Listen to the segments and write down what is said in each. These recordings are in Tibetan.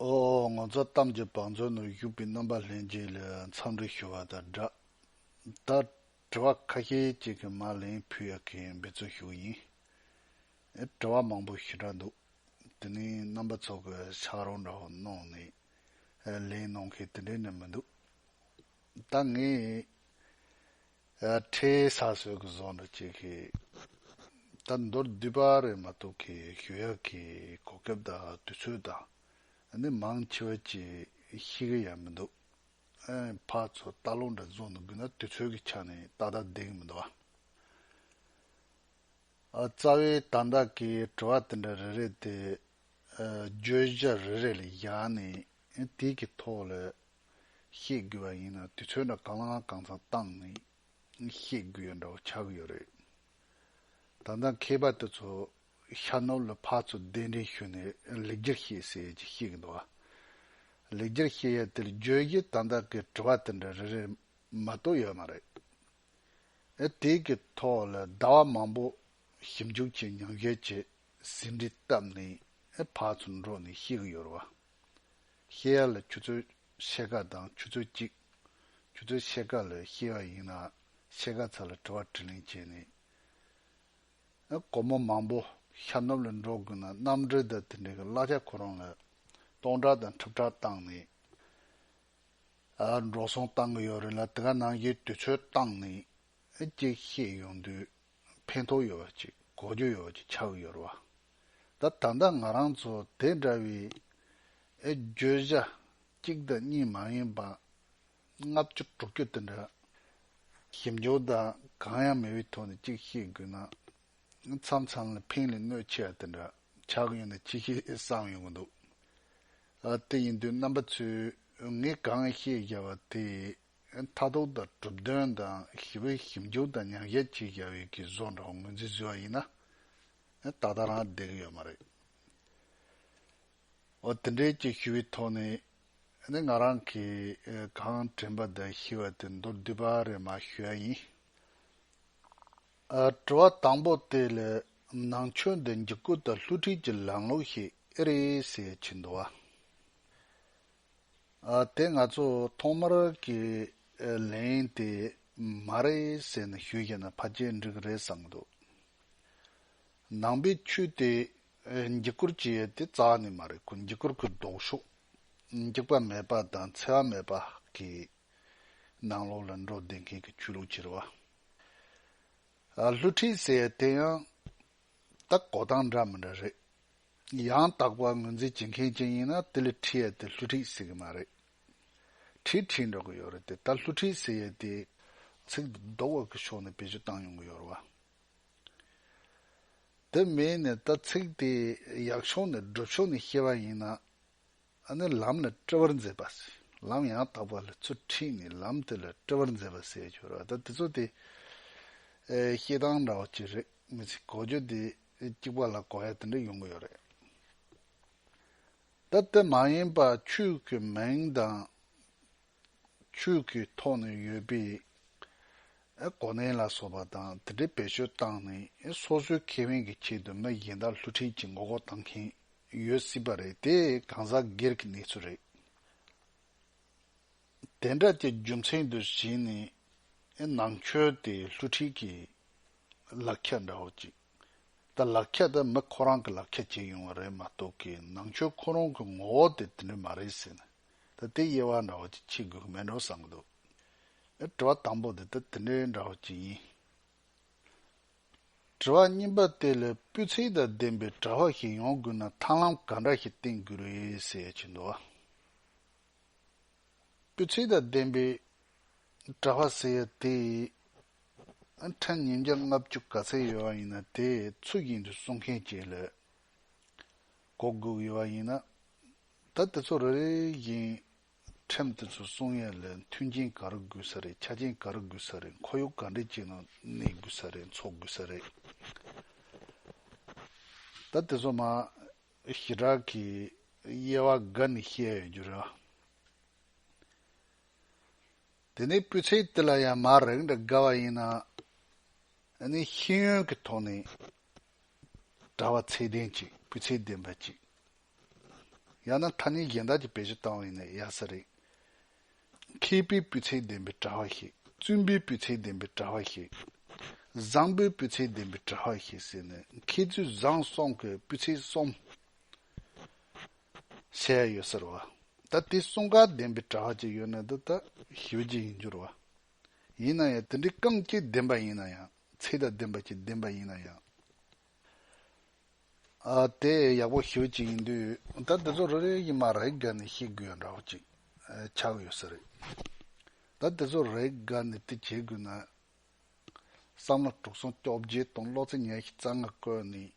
ཨོ་ཨོ་ངོ་ཚ་གཏམ་གྱི་བང་མཛོད་ནང་བཞུགས་པའི་རྣམ་པ་ལྷན་རྒྱས་ལས་མཚམས་རེ་ཞུ་བ་དང་སྦྲགས། ད་དྲི་བ་ཁ་ཤས་ཅིག་གི་མར་ལེན་ཕུལ་ཡག་གི་འབད་རྩོལ་ཞུ་ཡིན། དྲི་བ་མང་པོ་ཞུ་གྲ་འདུག་དེ་ནི་རྣམ་པ་ཚོ་གི་ཕྱག་རོགས་འདྲ་བོ་གནང་ནས་ལེན་གནང་མཁན་དེ་འདྲའི་ནི་མི་འདུག་ད་ངས། ཁྲའི་ས་སྲོད་ཀྱི་ཟོག་འདྲ་བྱེད་ཀྱི། ད་མདོར་བསྡུས་པ་རེད་མ་གཏོགས་ཀྱི་ཞོལ་ཡག་གི་གོ་སྐབས་དང་དུས་ཚོད་དང་ནི་མང་ཆེ་བ་གྱིས་ཤེས་ཀྱི་ཡང་མི་འདུག་ཕ་ཚོ་ལྟ་ལོག་འདྲ་བཟོ་འདུག་གི་ན་དུས་ཚོད་ཀྱི་ཆ་ནས་ཏག་ཏག་བསྡད་ཀྱི་མི་འདུག་ཨ། རྩ་བའི་དང་བདག་གི་དྲི་བ་དེ་འདྲ་རེ་རེ་དེ་བརྗོད་གཞི་རེ་རེ་ལས་བཞག་ནས་དེའི་གི་ཐོག་ལ་བཤད་དགོས་པ་ཡིན་ན་དུས་ཚོད་འདྲ་གང་ལའང་གང་ཚང་བཏང་ནས་བཤད་དགོས་ཡོད་འདྲ་བོ་ཆགས་ཀྱི་ཡོད་རེད། ད་ལྟ་མཁས་པ་དེ་ཚོ་ཤ་ནོར་ལ་ཕག་ཚོ་གདན་འདྲེན་ཞུས་ནས་ལེགས་སྒྱུར་བཤད་ཟེར་ཡས་ཀྱི་བཤད་ཀྱི་འདུག་ཨ། ལེགས་སྒྱུར་བཤད་ཡས་དེར་བརྗོད་གཞི་དང་བདག་གི་དྲི་བ་དེ་འདྲ་རེ་རེར་མ་གཏོགས་ཡོད་མ་རེད། ཨ་དེའི་གི་ཐོག་ལ་ཟླ་བ་མང་པོ་ཞིབ་འཇུག་བྱས་མྱངས་ཞལ་གྱི་ཟིན་བྲིས་བཏབ་ནས་ཨ་ཕག་ཚོ་འགྲོ་ནས་བཤད་ཀྱི་ཡོད་རེད་བ། བཤད་ཡ་ལ་ཆུ་ཚོད་ཕྱེད་ཀ་དང་ཆུ་ཚོད་གཅིག། ཆུ་ཚོད་ཕྱེད་ཀ་ལ་བཤད་ཡ་ཡིན་ན་ཕྱེད་ཀ་ཚ་ལ་དྲི་བ་དྲི་ལན་བྱས་ནས། སྒོར་མོ་མང་པོ་ཤར་ནུབ་ལ་འགྲོ་དགོས་ན་གནམ་གྲུ་དང་དེ་འདྲའི་གླ་ཆ་ཁོ་རང་ལ་སྟོང་ཕྲག་དང་ཁྲི་ཕྲག་བཏང་ནས་འགྲོ་སོང་བཏང་གི་ཡོད་རེད་ལ་དེ་ག་ནང་བཞིན་དུས་ཚོད་བཏང་ནས་ཅིག་བཤད་ཡོང་དུས། ཕན་ཐོགས་ཡོད་པ་ཅིག་གོ་རྒྱུ་ཡོད་པ་ཅིག་ཆགས་ཡོད་རེད་བ། ད་ད་ལྟ་ང་རང་ཚོ་དེ་འདྲ་བའི་བརྗོད་བྱ་གཅིག་དང་གཉིས་མ་ཡིན་པ་ལྔ་བཅུ་དྲུག་བཅུ་དེ་འདྲ། ཞིབ་འཇུག་དང་གང་ཡང་མེད་པའི་ཐོག་ནས་གཅིག་བཤད་དགོས་ན་མཚམས་མཚམས་ལ་ཕིང་ལས་གནོད་ཆེ་བ་དེ་འདྲ་ཆགས་ཀྱི་ཡོད་ན་ཅི་ཞིག་བསམ་ཡོང་གི་འདུག་དེ་ཡིན་དུས་རྣམ་པ་ཚོས་ངས་གང་བཤད་བཞག་པ་དེ་མཐའ་དོག་དང་གྲུབ་དོན་དང་ཞི་བའི་ཞིབ་འཇུག་དང་མྱང་བྱ་ཅི་བྱ་བའི་གི་བཟོ་འདྲ་བོ་ངོས་འཛིན་ཟེར་བ་ཡིན་ན། ད་ལྟ་རང་བདེ་གི་ཡོད་མ་རེད། འོ་དེ་འདྲའི་ཅིག་ཞི་བའི་ཐོག་ནས་ནི་ང་རང་གི་གང་དྲན་པ་དང་ཤེས་བ་དེ་མདོར་བསྡུས་པ་རེ་མ་ཞུ་ཡ་ཡིན། དྲི་བ་དང་པོ་དེ་ལ་ནང་ཆོས་འདི་འཇིགས་སྐུལ་དང་སླུ་བྲིད་ཀྱི་ལམ་ལུགས་ཤིག་ཨེ་རེད་ཟེར་ཕྱིན་འདུག་བ། དེ་ང་ཚོ་ཐོག་མར་གི་ལན་ཡིན་ཏེ། མ་རེད་ཟེར་ནས་ཞུས་ཤེ་ན་ཕ་རྒྱལ་འགྲིག་གི་རེད་བསམ་གི་འདུག། ནང་པའི་ཆོས་དེ་འགྱིག་སྐུར་གྱི་ཡོད་དེ་རྩ་བ་ནས་མ་རེད་འགྱིག་སྐུར་གི་ལྡོག་ཕྱོགས་འགྱིག་པ་མེད་པ་དང་འཚེ་བ་མེད་པ་གི་ནང་ལོགས་ལ་འགྲོ་བསྡད་མཁན་གི་ཆོས་ལུགས་ཀྱི་རེད་བ། ལྷུ་ཁྲིད་ཟེར་ཡོད་དེ་ཡང་ད་གོ་སྟངས་འདྲ་མི་འདྲ་རེད། ཡང་དག་པར་ངོས་འཛིན་བྱེད་མཁན་ཅན་ཡིན་ན་དེ་ལས་ཁྲིད་ཡས་དེ་སླུ་ཁྲིད་ཟེར་གི་མ་རེད། ཁྲིད་ཁྲིད་འགྲོ་གི་ཡོད་རེད་དེ་ད་སླུ་ཁྲིད་ཟེར་ཡས་དེ། ཚིག་འདི་ལྡོག་འོག་གི་ཕྱོགས་ནས་བེད་སྤྱོད་བཏང་ཡོང་གི་ཡོད་རེད། དེ་མིན་ནས་ད་ཚིག་དེ་ཡག་ཕྱོགས་ནས་སྒྲུབ་ཕྱོགས་ནས་བཤད་པ་ཡིན་ན། ཨ་ནི་ལམ་ལ་སྤྲེལ་བར་མཛད་པ་ཟེར་ལམ་ཡང་དག་པར་ལ་ཚུར་ཁྲིད་ནས་ལམ་དེ་ལ་སྤྲེལ་བར་མཛད་པ་ཟེར་གྱི་ཡོད་རེད་ད་དེ་ཚོ་དེ། ཤེས་སྟངས་འདྲ་བ་གཅིག་རེད་མི་ཚེ་གོ་རྒྱུ་དེ། གཅིག་པ་ལ་གོ་བས་དེ་འདྲ་ཡོང་གི་ཡོད་རེད། ད་དེ་མ་ཡིན་པར་ཆོས་ཀྱི་མིང་དང། ཆོས་ཀྱི་ཐོག་ནས་ཡོད་པའི་གོ་གནས་ལ་སོགས་པ་དང་དེ་འདྲའི་བེད་སྤྱོད་བཏང་ནས་སོ་སོའི་ཁེ་ཕན་གྱི་ཆེད་དུ་མི་གཞན་དག་བསླུ་བྲིད་ཀྱིས་མགོ་སྐོར་བཏང་མཁན་ཡོད་སྲིད་པ་རེད་དེ་གང་ཟག་སྒེར་གྱི་གནས་ཚུལ་རེད། དེ་འདྲ་ཀྱི་རྒྱུ་མཚན་དུ་བྱས་ནས་ནང་ཆོས་དེ་བསླུ་ཁྲིད་ཀྱི་ལག་ཁྱེར་འདྲ་བོ་ཅིག་དང་ལག་ཁྱེར་དེ་མི་ཁོ་རང་གི་ལག་ཁྱེར་བྱས་ཡོང་བ་རེད་མ་གཏོགས་ཀྱི་ནང་ཆོས་ཁོ་རང་གི་ངོ་བོ་དེ་དེ་འདྲ་མ་རེད་ཟེར་ན་ད་དེ་དབྱེ་བ་འདྲ་བོ་ཅིག་ཕྱེ་དགོས་ཀྱི་མེད་འགྲོ་བསམ་གྱི་འདུག་ཨེ་དྲི་བ་དང་པོ་དེ་ད་དེ་འདྲའི་འདྲ་བོ་ཅིག་ཡིན། དྲི་བ་གཉིས་པ་དེ་ལས་སྤུས་ཚད་དང་ལྡན་པའི་གྲྭ་བ་ཞིག་ཡོང་དགོས་ན་ཐང་ལམ་ག་འདྲ་ཞིག་བསྟེན་དགོས་རེད་ཟེར་ཡ་བྱས་འདུག་བ། པའི་ཚིག་དང་ལྡན་པའི་གྲྭ་བ་ཟེར་ཡ་དེ་ཕྲན་ཉིན་བརྒྱ་ལྔ་བཅུ་ག་ཚད་ཡོད་བ་ཡིན་ན་དེ་ཚུལ་བཞིན་དུ་གསུང་མཁན་བྱེད་ལོས་གོ་དགོས་ཡོད་བ་ཡིན་ན་ད་དེ་ཚོ་རེ་རེ་བཞིན་ཕྲན་དེ་ཚོ་གསུང་ཡ་ལས་མཐུན་རྐྱེན་ག་རེ་དགོས་ས་རེད་ཆ་རྐྱེན་ག་རེ་དགོས་ས་རེད་འཁོར་ཡུག་ག་འདྲེ་བྱས་ནོ་གནས་དགོས་ས་རེད་འཚོ་དགོས་ས་རེད་ད་དེ་ཚོ་མ་ཞི་དྲག་གི་དབྱེ་བ་འགའ་ནི་བཤད་ཡོད་རྒྱུ་རེད། དེ་ནི་སྤུས་ཚད་དེ་ལ་ཡང་མ་རེག་འདྲ་དགའ་བ་ཡིན་ན་ནི་ཤེས་ཡོན་གྱི་ཐོག་ནས་གྲྭ་བ་ཚད་ལྡན་གཅིག་སྤུས་ཚད་ལྡན་པ་གཅིག་ཡང་ན་ཐ་སྙད་གཞན་དག་གིས་བེད་སྤྱོད་བཏང་བ་ཡིན་ན་ཡག་ས་རེད། མཁས་པའི་སྤུས་ཚད་ལྡན་པའི་གྲྭ་བ་ཞིག། བཙུན་པའི་སྤུས་ཚད་ལྡན་པའི་གྲྭ་བ་ཞིག། བཟང་པོའི་སྤུས་ཚད་ལྡན་པའི་གྲྭ་བ་ཞིག་ཟེར་ནས་མཁས་བཙུན་བཟང་སོང་གི་སྤུས་ཚད་གསུམ་བཤད་ཡོད་ཟེར་བ། ད་དེ་གསུམ་ག་ལྡན་པའི་གྲྭ་བ་ཅིག་ཡོད་ན་འདི་ད་ཞི་བ་ཅིག་ཡིན་འགྱུར་བ། ཡིན་ན་ཡང་དེ་འདྲའི་རྐང་གཅིག་ལྡན་པ་ཡིན་ན་ཡང་ཚད་དང་ལྡན་པ་གཅིག་ལྡན་པ་ཡིན་ན་ཡང། དེ་ཡག་པོ་ཞུ་གཅིག་ཡིན་དུས་ད་འདི་ཚོ་རེ་རེ་ཡིན་མ་རེག་ག་ནས་ཤེས་དགོས་ཡ་འདྲ་བོ་ཅིག་ཆགས་ཡོད་ས་རེད་ད་འདི་ཚོ་རེག་ག་ནས་དེ་བྱེད་དགོས་ན་བསམ་བློ་དཀྲུགས་སོང་སྐྱོབ་རྗེ་དང་བློ་རྩེ་ཉལ་ཞིག་རྩ་ང་བཀོད་ནས་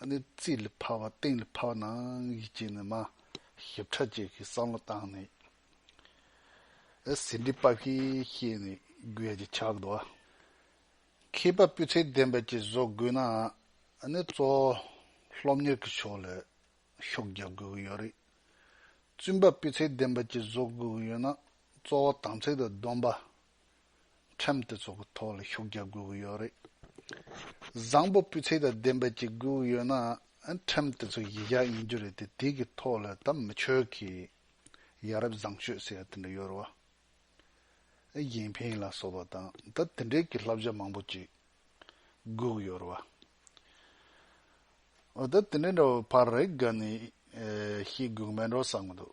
ཨ་ནི་རྩིས་ལ་ཕར་བ་སྟེང་ལ་ཕར་བ་ནང་གི་བྱས་ནས་མ་ཞིབ་ཕྲ་བཅས་ཀྱི་བསམ་བློ་བཏང་ནས་ཟིན་བྲིས་པ་ཞིག་ཤེས་ནས་དགོས་ཡ་ཅིག་ཆགས་འདུག་ཨ། མཁས་པ་སྤུས་ཚད་ལྡན་པ་ཅིག་བཟོ་དགོས་ན་ནི་གཙོ་བོ་སློབ་གཉེར་གྱི་ཕྱོགས་ལ་ཤུགས་རྒྱག་དགོས་ཀྱི་ཡོད་རེད། བཙུན་པ་སྤུས་ཚད་ལྡན་པ་ཅིག་བཟོ་དགོས་ཀྱི་ཡོད་ན་གཙོ་བོ་དམ་ཚིག་དང་སྡོམ་པ། ཁྲིམས་དེ་ཚོ་གི་ཐོག་ལ་ཤུགས་རྒྱག་དགོས་ཀྱི་ཡོད་རེད། བཟང་པོ་སྤུས་ཚད་དང་ལྡན་པ་ཅིག་དགོས་ཀྱི་ཡོད་ན་ཁྲིམས་དེ་ཚོ་གཞི་བཞག་ཡིན་རྒྱུ་རེད་དེ་དེ་གི་ཐོག་ལ་ད་མི་ཆོས་ཀྱི་ཡ་རབས་བཟང་སྤྱོད་ཟེར་ཡ་དེ་འདྲ་ཡོད་རེད་བ། ཨེ་ཡིན་ཕིན་ལ་སོགས་པ་དང་ད་དེ་འདྲས་ཀྱི་བསླབ་བྱ་མང་པོ་ཅིག་སྒུག་ཡོད་རེད་བ། འོ་ད་དེ་འདྲས་འདྲ་བའི་བར་རེ་འགའ་ནི་ཤི་སྒུག་མེད་འགྲོ་བསམ་གྱི་འདུག།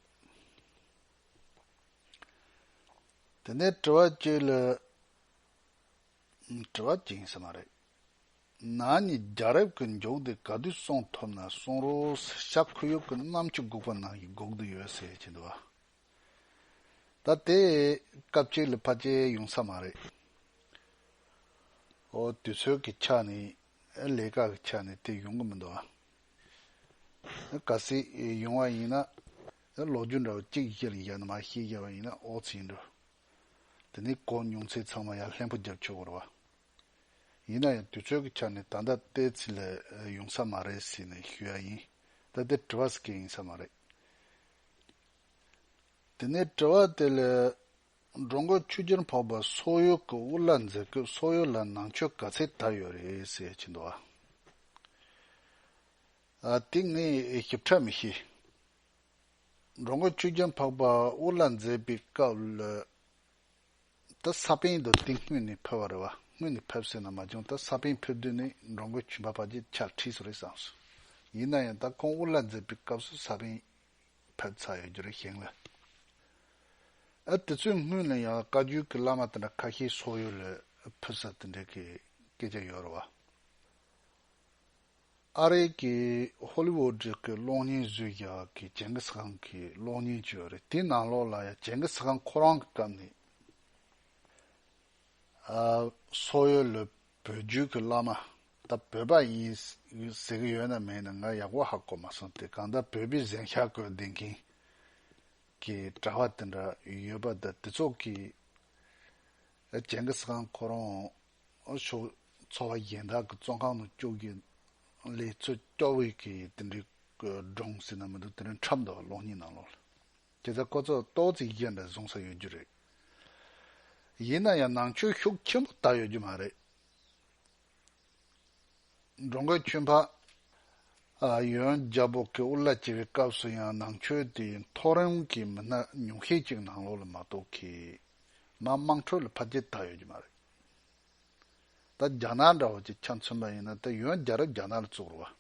དེ་ནས་དྲི་བ་གཅིག་ལ་དྲི་བ་གཅིག་ཡིན་ས་མ་རེད། ན་ནི་རྒྱ་རབས་ཀྱི་མགྱོགས་དེ་ག་དུས་སོང་ཐུབ་ན་སོང་རོགས་ཟེར་ཤག་ཁུ་ཡུག་གི་གནམ་ཆུ་སྒུག་པ་ནང་གི་སྒུག་དུ་ཡོད་ཟེར་གྱི་འདུག་བ། ད་དེ་སྐབས་ཅིག་ལ་ཕ་རྗེས་ཡོང་ས་མ་རེད། ཨོ་དུས་ཚོད་ཀྱི་ཆ་ནས་ལས་ཀ་གི་ཆ་ནས་དེ་ཡོང་གི་མི་འདུག་ཨ། ག་སྲིད་ཡོང་བ་ཡིན་ན་ལོ་རྒྱུས་འདྲ་བོ་གཅིག་གཞི་ལ་ཡ་ནི་མ་ཤེས་རྒྱ་བ་ཡིན་ན་ཨོ་ཚེ་ཡིན་འགྲོ། དེ་ནས་གོ་མྱོང་ཚེ་ཚང་མ་ཡར་ལྷན་པོ་རྒྱབ་ཆོག་གོ་རེད་བ། ཡིན་ན་ཡང་དུས་ཚོད་ཀྱི་ཆ་ནས་ད་ལྟ་ལྟས་ཚིག་ལ་ཡོང་ས་མ་རེད་ཟེར་ནས་ཞུ་ཡ་ཡིན་ད་དེ་དྲི་བ་ཟེར་མཁན་ཡིན་ས་མ་རེད། དེ་ནས་དྲི་བ་དེ་ལས། འབྲོང་དགོན་ཆུ་རྒྱུན་ཕོག་པར་སོག་ཡུལ་གྱི་དབུ་བླ་མཛད་སྐབས་སོག་ཡུལ་ལ་ནང་ཆོས་ག་ཚད་དར་ཡོད་རེད་ཟེར་གྱི་འདུག་ཨ། དེ་ངས་ཞིབ་ཕྲ་མི་ཤེས། འབྲོང་དགོན་ཆུ་རྒྱུན་ཕོག་པར་དབུ་བླ་མཛད་པའི་སྐབས་ལ། ད་ས་པན་དུ་དེ་སྔོན་ནས་ཕེབས་བ་རེད་བ། སྔོན་ནས་ཕེབས་སྲིད་ན་མ་བྱུང་ད་ས་པན་ཕེབས་དུས་ནས་འབྲོང་དགོན་ཆུ་འབབ་བར་གྱི་ཆར་ཁྲིས་སུ་རེད་བསམ་སོང། ཡིན་ན་ཡང་ད་ཁོང་དབུ་བླ་མཛད་པའི་སྐབས་སུ་ས་པན་ཕེབས་ཚར་ཡོད་རྒྱུ་རེད་ཤེས་ངེས། ཨ་དེ་ཚོའི་སྔུན་ལ་ཡང་བཀའ་བརྒྱུད་ཀྱི་བླ་མ་དེ་འདྲ་ཁ་ཤས་སོག་ཡུལ་ལས་ཕུད་ས་དེ་འདྲས་ཀྱི་སྐད་ཆ་ཡོད་རེད་བ། ཨ་རི་ཀའི་ཧོ་ལི་བོ་ཀྲི་ཀའི་གློག་བརྙན་བཟོས་རྒྱག་གི་ཇེན་གི་སི་ཁང་གི་གློག་བརྙན་བཅུ་ཡོད་རེད་དེའི་ནང་ལོགས་ལ་ཡང་ཇེན་གི་སི་ཁང་ཁོ་རང་གི་སྐབས་ནས་སོག་ཡུལ་ལས་བོད་བརྒྱུད་ཀྱི་བླ་མ་ད་བོད་པ་ཡིན་ཟེར་གྱི་ཡོད་ན་མེད་ན་ང་ཡག་པོ་ཧ་གོ་མ་སོང་དེ་གང་ལྟར་བོད་པའི་གཟན་ཤ་བཀོལ་བསྡད་མཁན་གྱི་གྲྭ་བ་དེ་འདྲ་ཡོད་པ་ད་དེ་ཚོ་གིས་ཇེན་གིས་ཁང་ཁོ་རང་ཕྱོགས་འཚོ་བ་གཞན་དག་གི་བཙོན་ཁང་ནང་བཅུག་གི་ལས་ཚོད་སྐྱོ་བོས་གིས་དེ་འདྲའི་སྒྲོངས་ཟེར་ན་མི་འདུག་དེ་འདྲའི་འཁྲབ་འདུག་གློག་བརྙན་ནང་ལོགས་ལ། དེ་ལྟར་ཀོ་ཚོགས་ཏོག་རྩིས་བརྒྱན་པའི་བཟུང་ས་ཡོད་རྒྱུ་རེད། ཡིན་ན་ཡང་ནང་ཆོས་ཤུགས་ཆེན་པོ་དར་ཡོད་རྒྱུ་མ་རེད། འགྲོ་མགོན་ཁྱོད་འཕགས། ཡོན་རྒྱལ་པོ་གི་དབུ་བླ་བྱེད་པའི་སྐབས་སུ་ཡང་ནང་ཆོས་དེའི་མཐོ་རིམ་གྱི་མི་སྣ་ཉུང་ཤས་ཅིག་ནང་ལོགས་ལ་མ་གཏོགས་ཁེ་མ་དམངས་ཁྲོད་ལ་ཕར་རྒྱལ་དར་ཡོད་རྒྱུ་མ་རེད། ད་རྒྱ་ནག་འདྲ་བོ་ཅིག་ཆ་མཚོན་པ་ཡིན་ན་ད་ཡོན་རྒྱལ་རབས་རྒྱ་ནག་ལ་བཙུགས་རུ་བ།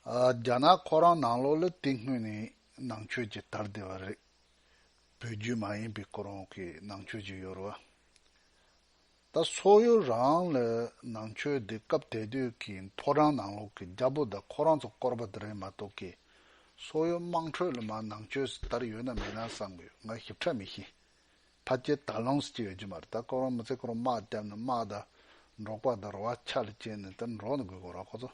རྒྱ་ནག་ཁོ་རང་ནང་ལོགས་ལ་དེ་སྔོན་ནས་ནང་ཆོས་ཀྱི་དར་དེ་བ་རེད། བོད་བརྒྱུད་མ་ཡིན་པའི་ཁོ་རང་གི་ནང་ཆོས་ཀྱི་ཡོ་ར་བ། ད་སོག་ཡོ་རང་ལ་ནང་ཆོས་དེ་སྐབས་དེ་དུས་ཀྱི་མཐོ་རང་ནང་ལོགས་ཀྱི་རྒྱ་པོ་དང་ཁོ་རང་ཚོ་བསྐོར་བ་དེ་རེད་མ་གཏོགས་ཀྱི་སོག་ཡོ་དམངས་ཁྲོད་ལ་མ་ནང་ཆོས་སི་དར་ཡོད་ན་མེད་ན་བསམ་གི་ང་ཞིབ་ཕྲ་མི་ཤེས། ཕ་སྐྱེས་ད་ལོངས་སུ་སྐྱེས་ཡོད་ཀྱི་མ་རེད་ད་ཁོ་རང་མི་ཚེ་ཁོ་རང་དམག་བརྒྱབ་ནས་དམག་དང་འབྲོག་པ་དང་རོ་བ་ཆ་ལ་བཅད་ནས་ད་འབྲོག་ནས་དགོས་དགོས་ར་ཁོ་ཚོ།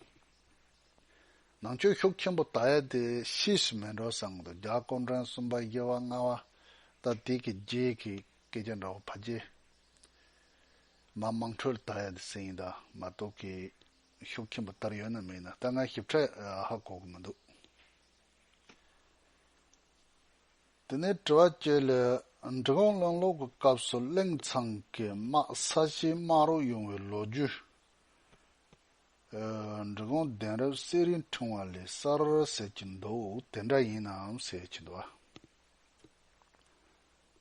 ནང་ཆོས་ཤུགས་ཆེན་པོ་དར་ཡས་དེ་ཤི་ཞིག་མེད་འགྲོ་བསམ་གི་རྒྱ་ཀོང་བྲན་གསུམ་པ་དབྱེ་བ་ལྔ་བ་ད་དེ་གི་རྗེས་ཀྱི་སྐད་ཆ་འདྲ་བོ་ཕ་རྗེས་མ་དམངས་ཁྲོད་དར་ཡས་དེ་ཟེར་ཡིན་དང་མ་གཏོགས་གི་ཤུགས་ཆེན་པོ་དར་ཡོད་ན་མེད་ན་ད་ང་ཞིབ་ཕྲ་ཧ་གོ་གི་མི་འདུག་དེ་ནས་དྲི་བ་བཅས་ལས་འབྲི་གུང་བློན་སློབ་ཀྱི་སྐབས་སུ་གླིང་ཚང་གི་དམག་ས་གཞི་དམག་རོགས་ཡོང་བའི་ལོ་རྒྱུས། འབྲི་གུང་གདན་རབས་གསེར་རིའི་འཕྲེང་བ་ལས་གསར་ཟེར་གྱི་འདུག་དེ་འདྲ་ཡིན་ནམ་ཟེར་གྱི་འདུག་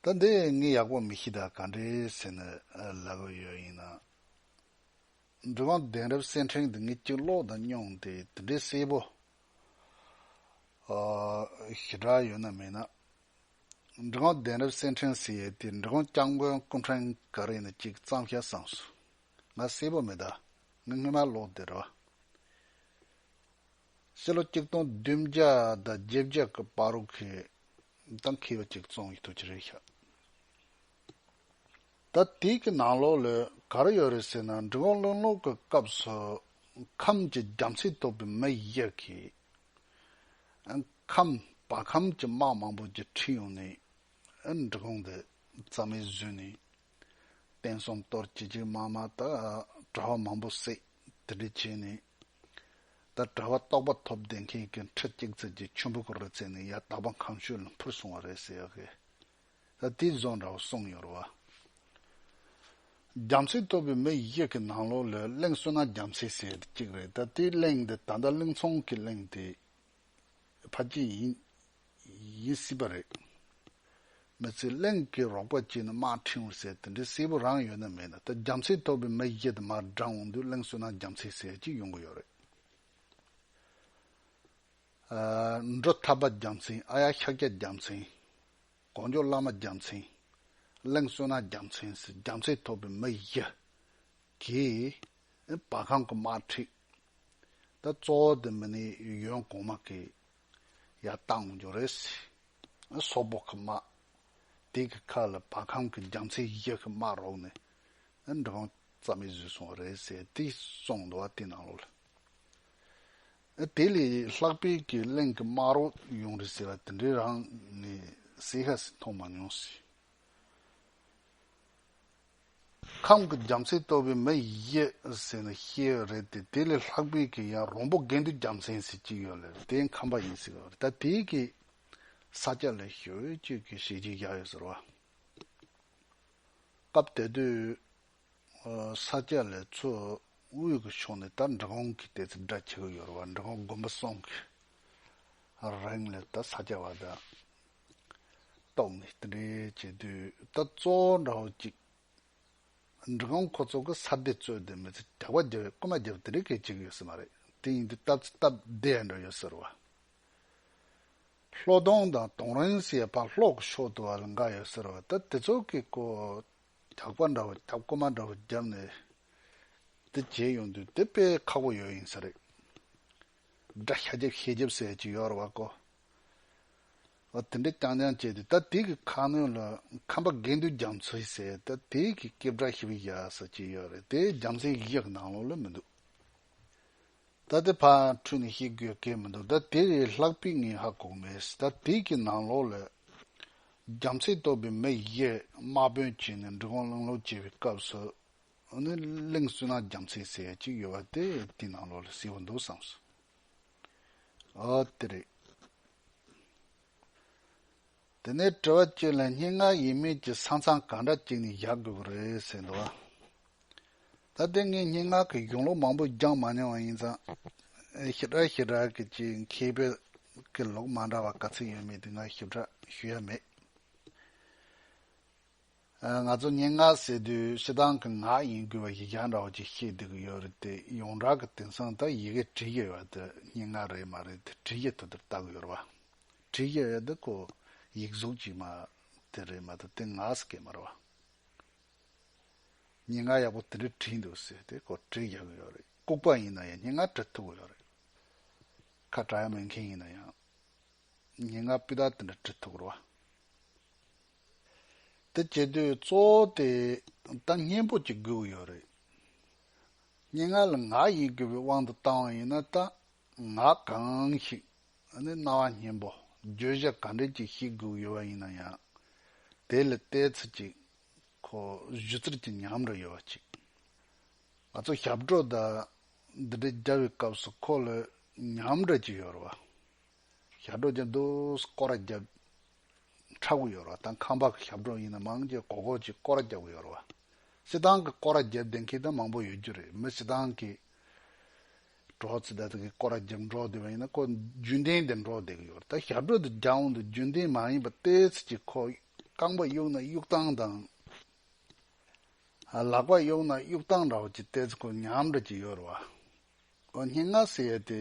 ད་འདི་ངས་ཡག་པོ་མི་ཤེས་ད་ག་འདྲའི་ཟེར་ནས་ལབ་ཨོ་ཡོད་ཡིན་ན་འབྲི་གུང་གདན་རབས་གསེར་འཕྲེང་དེ་ངས་སྐྱི་ལོག་དང་སྙུང་དེ་དེ་འདྲའི་གསལ་པོ་ཞེ་དྲག་ཡོད་ན་མེད་ན། འབྲི་གུང་གདན་རབས་གསེར་འཕྲེང་ཟེར་ཡས་དེ་འབྲི་གུང་སྐྱབས་མགོན་སྐུ་འཕྲེང་ག་རེ་ཡིན་ན་གཅིག་གཙང་ཤ་གསང་སུ། ང་སེར་པོ་མི་གདའ། ང་སྔོན་མ་ལོག་འདིར་རོ། ཕྱི་ལོ་གཅིག་སྟོང་བདུན་བརྒྱ་དང་བརྒྱད་བརྒྱ་གི་པཱ་རུག་གི་དང་ཁེ་བ་གཅིག་བཙོང་ཡི་ཐུགས་ཀྱི་རེ་ཞག་ད་དུས་ཀྱི་ནང་ལོག་ལོས་ག་རེ་ཡོད་རེད་ཟེར་ན་འབྲི་གུང་བློན་ལོག་གི་སྐབས་སུ་ཁམས་ཀྱི་རྒྱ་མཚོས་གཏོགས་པའི་མི་ཡི་གིས་ཁམས་བ་ཁམས་ཀྱི་དམག་མང་པོ་རྒྱུ་འཕྲི་ཡོང་ནས་འབྲི་གུང་འདི་རྩ་མེད་བཟོས་ནས། དཔལ་གསུམ་གཏོར་ཅི་ཅི་མ་མ་ད་དྲ་བ་མང་པོ་བསྲེག་དེ་འདྲས་བྱས་ནས་ད་དྲ་བ་རྟོགས་པ་ཐོབ་བསྡད་མཁན་གྱི་ཁྲི་གཅིག་ཚད་ཀྱི་ཆུན་པོ་ཁོ་ར་ཚད་ནས་ཡར་དྭགས་པ་གངས་ཤུད་ལ་འཕུར་སོང་བ་རེད་ཟེར་ཡག་གི་ད་དེའི་བཟོ་འདྲ་བོ་གསུངས་ཡོད་རེད་བ། རྒྱ་མཚོའི་སྟོད་པའི་མི་ཞིག་གི་ནང་ལོགས་ལས་གླིང་བསོད་ནམས་རྒྱ་མཚོས་ཟེར་གཅིག་རེད་ད་དེའི་གླིང་འདི་ད་ལྟ་གླིང་ཚོང་གི་གླིང་དེ་ཕ་སྐྱིད་ཡིན། ཡིན་སྲིད་པ་རེད། མི་ཚེ་གླིང་གི་རོགས་པ་གཅིག་ནི་དམག་ཁྲིན་འོད་ཟེར་དེ་འདྲའི་སྲས་པོ་རང་ཡོད་ན་མེད་ན་ད་རྒྱམ་ཚེ་ཐོབ་པའི་མི་གཞི་དུ་མར་བགྲང་འོང་དུས་གླིང་བསོད་ནམས་རྒྱམ་ཚེ་ཟེར་གཅིག་ཡོང་གི་ཡོད་རེད། འབྲོ་ཐབ་པ་རྒྱམ་ཚེ་ཨ་ཡ་ཤཱཀྱ་རྒྱམ་ཚེ། གོང་འཇོག་བླ་མ་རྒྱམ་ཚེ། གླིང་བསོད་ནམས་རྒྱམ་ཚེ་ཟེར་རྒྱམ་ཚེ་ཐོབ་པའི་མི་གཞི་གིས། བ་གང་གི་དམར་ཁྲིད་དེ་གཙོ་བོ་དེ་མི་ནི་གཡོན་གོང་མ་གི་ཡ་བཏང་གི་འགྱོ་རེད་སྲིད་སོག་པོ་གི་དམག་དེ་གི་ཁ་ལ་བ་གང་གི་རྒྱང་ཚིག་གཞི་གི་དམག་རོགས་ནི་འབྲི་གང་རྩ་མེད་བཟོས་སོང་བ་རེད་ཟེར་དེ་གསུངས་འདུག་བ་དེ་ནང་ལོག་ལ་དེ་ལས་ལྷག་པའི་གི་གླིང་གི་དམག་རོགས་ཡོང་རེད་ཟེར་བ་དེ་འདྲའི་རང་ནི་སྲིད་ཧ་སི་མཐོང་མ་མྱོང་སྲིད། ཁམས་ཀྱི་རྒྱམ་མཚན་སྟོད་པའི་མི་ཡིས་ཟེར་ན་ཤེས་ཡོད་རེད་དེ་དེ་ལས་ལྷག་པའི་གི་ཡང་རོང་པོ་དགེ་འདུན་རྒྱམ་མཚན་ཟེར་གྱི་ཡོད་ལེ་དེ་ཁམས་པ་ཡིན་ཟེར་གི་ཡོད་རེད་ད་དེའི་གི་ས་སྐྱ་ལས་ཞོལ་བོད་ཅུས་ཀྱི་ཞིག་ཅིག་བཞག་ཡོད་ཟེར་བ། སྐབས་དེ་དུས་ས་སྐྱ་ལས་ཚོས་དབུས་ཀྱི་ཕྱོགས་ནས་ད་འབྲི་གུང་གི་ལྟས་ཚིག་སྒྲ་འཁྱེར་གི་ཡོད་རེད་བ་འབྲི་གུང་དགོན་པ་སོང་གི་རིང་ལས་ད་ས་སྐྱ་བ་དང་རྟོག་མེད་རྟེན་འབྲེལ་བཅད་བསྡུས་ལྟ་གཙོ་བོ་འདྲ་བོ་གཅིག། འབྲི་གོང་ཁོ་ཚོ་གི་ས་སྡེ་གཙོས་དེ་མི་ཚེ་དྲེགས་པ་བརྒྱབ་བའི་རྐུན་མ་བརྒྱབ་དེ་རིགས་གལ་ཆེ་གི་ཡོད་ས་མ་རེད་དེ་ཡིན་དུས་སྟབས་ཚེ་སྟབས་བདེ་འདྲ་ཡོད་ཟེར་བ། ལྷོ་གདོང་དང་གདོང་རིང་སའི་བག་ལྷོག་གི་ཕྱོགས་དུ་བ་ལ་འགའ་ཡོད་ཟེར་བ་ད་དེ་ཚོ་གི་ཀོ་རྒྱག་པ་འདྲ་བོ་རྒྱབ་རྐུན་མ་འདྲ་བོ་བརྒྱབ་ནས་དེ་བྱས་ཡོང་དུས་དེ་དཔེ་ཁག་པོ་ཡོད་ཡིན་ས་རེད། སྒྲ་ཤ་རྒྱབ་ཤས་རྒྱབ་སའི་ཅིག་ཡོད་རེད་བ་ཀོ། ཨོ་དེ་འདྲས་རྐྱང་རྐྱང་བྱས་ཏེ་ད་དེ་གི་ཁ་སྣོན་ལ་ཁམས་པ་དགེ་འདུན་རྒྱ་མཚོས་ཟེར་ད་དེ་གི་སྐད་བསྒྲགས་ཤི་བི་ཡ་ཟེར་གྱི་ཡོད་རེད་དེ་རྒྱ་མཚན་ཡིག་ཡག་ནང་ལོག་ལོས་མི་འདུག་ད་དེ་ཕ་འཁྲུལ་ནས་ཤེས་དགོས་སྐད་མི་འདུག་ད་དེ་རེ་ལྷག་པི་ངའི་ཧ་གོ་མེད་ད་དེ་གི་ནང་ལོག་ལ་རྒྱ་མཚན་གཏོགས་པའི་མི་ཡིག་དམག་དཔོན་བྱས་ནས་འབྲི་གུང་གླིང་ལོག་བྱས་པའི་སྐབས་སུ་ནི་གླིང་བསུ་ན་རྒྱ་མཚན་ཟེར་ཡ་གཅིག་ཡོད་པ་དེ་དེ་ནང་ལོག་ལ་ཟེར་བ་འདུག་བསམ་སོང། འོ་དེ་རེད། དེ་ནས་དྲི་བ་ཁྱོད་ལ་སྙན་ངག་ཡིན་མིན་གྱི་ས་མཚམས་གང་འདྲ་ཅིག་ནས་བཞག་དགོས་པ་རེད་ཟེར་འདུག་ད་ལྟའི་ངས་སྙན་ངག་གི་གཞུང་ལུགས་མང་པོ་སྦྱངས་མ་མྱོང་བ་ཡིན་ཙང། ཞིབ་ཕྲ་ཞིབ་ཕྲ་གི་ཅིག་མཁས་པའི་གི་ལུགས་མ་འདྲ་བ་ག་ཚོད་ཡོད་མེད་དེ་ང་ཞིབ་ཕྲ་ཞུ་ཡ་མེད། ང་ཚོ་སྙན་ངག་ཟེར་དུས་ཤི་སྡང་གི་ངག་ཡིན་དགོས་པ་ཞིག་རྒྱང་རིང་བ་ཅིག་ཤེས་སྡོད་ཀྱི་ཡོད་རེད་དེ་ཡོངས་གྲགས་ཀྱི་དེང་སང་ད་ཡི་གེ་བྲིས་ཀྱི་ཡོད་དེ་སྙན་ངག་རེད་མ་རེད་དེ་བྲིས་ཀྱི་དུ་དེར་བལྟ་གི་ཡོད་རེད་བ། བྲིས་ཀྱི་ཡོད་དེ་ཁོ་ཡིག་གཟུགས་ཅིག་མ་དེ་རེད་མ་དེ་དེ་ངག་ཟེར་གི་མ་རེད་བ། སྙན་ངག་ཡག་པོ་དེ་འདྲས་བྲིས་འདུག་ཟེར་དེ་ཁོ་བྲིས་རྒྱག་གི་ཡོད་རེད་ལྐུགས་པ་ཡིན་ན་ཡང་སྙན་ངག་བྲི་ཐུབ་ཀྱི་ཡོད་རེད། ཁ་གྲགས་ཡག་མེད་མཁན་ཡིན་ན་ཡང་སྙན་ངག་སྤུས་དག་དེ་འདྲས་བྲི་ཐུབ་ཀྱི་རེད་བ། དེ་བྱེད་དུས་གཙོ་བོ་དེ་ད་སྙན་པོ་གཅིག་དགོས་ཀྱི་ཡོད་རེད། སྙན་ངག་ལ་ངག་ཡིན་དགོས་པའི་དབང་དུ་བཏང་བ་ཡིན་ན་ད་ངག་གང་ཞིག་ནི་རྣ་བ་སྙན་པོ་བརྗོད་བྱ་ག་འདྲས་ཅིག་ཤེས་དགོས་ཀྱི་ཡོད་པ་ཡིན་ན་ཡང་དེ་ལ་བལྟས་ཚུལ་གྱི་ཁོ་བོའི་གཞུ་རྩེར་གྱི་ཉམས་འགྲོ་ཡོད་པ་གཅིག། ང་ཚོ་ཞབས་བྲོ་དང་འདི་འདྲ་རྒྱག་པའི་སྐབས་སུ་ཁོ་ལ་ཉམས་འགྲོ་གཅིག་ཡོད་རེད་བ། ཞབས་བྲོ་བརྒྱབ་འདུག་སྐོར་བརྒྱབ། འཁྲབ་གི་ཡོད་རེད་བ་དང་ཁང་པ་གི་ཞབས་བྲོ་ཡིན་ན་མང་གི་གོ་གོ་ཅིག་སྐོར་བརྒྱབ་གི་ཡོད་རེད་བ། བསེ་ཐང་གི་སྐོར་བརྒྱབ་བདེན་མཁན་ད་མང་པོ་ཡོད་རྒྱུ་རེད་མི་བསེ་ཐང་གི་བྲོ་ཙི་ད་ད་གི་སྐོར་བརྒྱབ་འགྲོ་བསྡད་པ་ཡིན་ན་ཁོ་རྒྱུན་ལྡན་དེ་འགྲོ་བསྡད་གི་ཡོད་རེད་ད་ཞབས་བྲོ་དེ་རྒྱ་འོང་དུ་རྒྱུན་ལྡན་མ་ཡིན་པ་ལྟས་ཚིག་ཅིག་ཁོ་རྐང་པ་གཡུག་ན་གཡུག་སྟངས་དང། ལག་པ་གཡུག་ན་གཡུག་སྟངས་འདྲ་བོ་ཅིག་ལྟས་ཚིག་ཁོ་ཉམས་འདྲ་ཅིག་ཡོད་རེད་བ། ཨོ་སྙན་ངག་ཟེར་ཡས་དེ་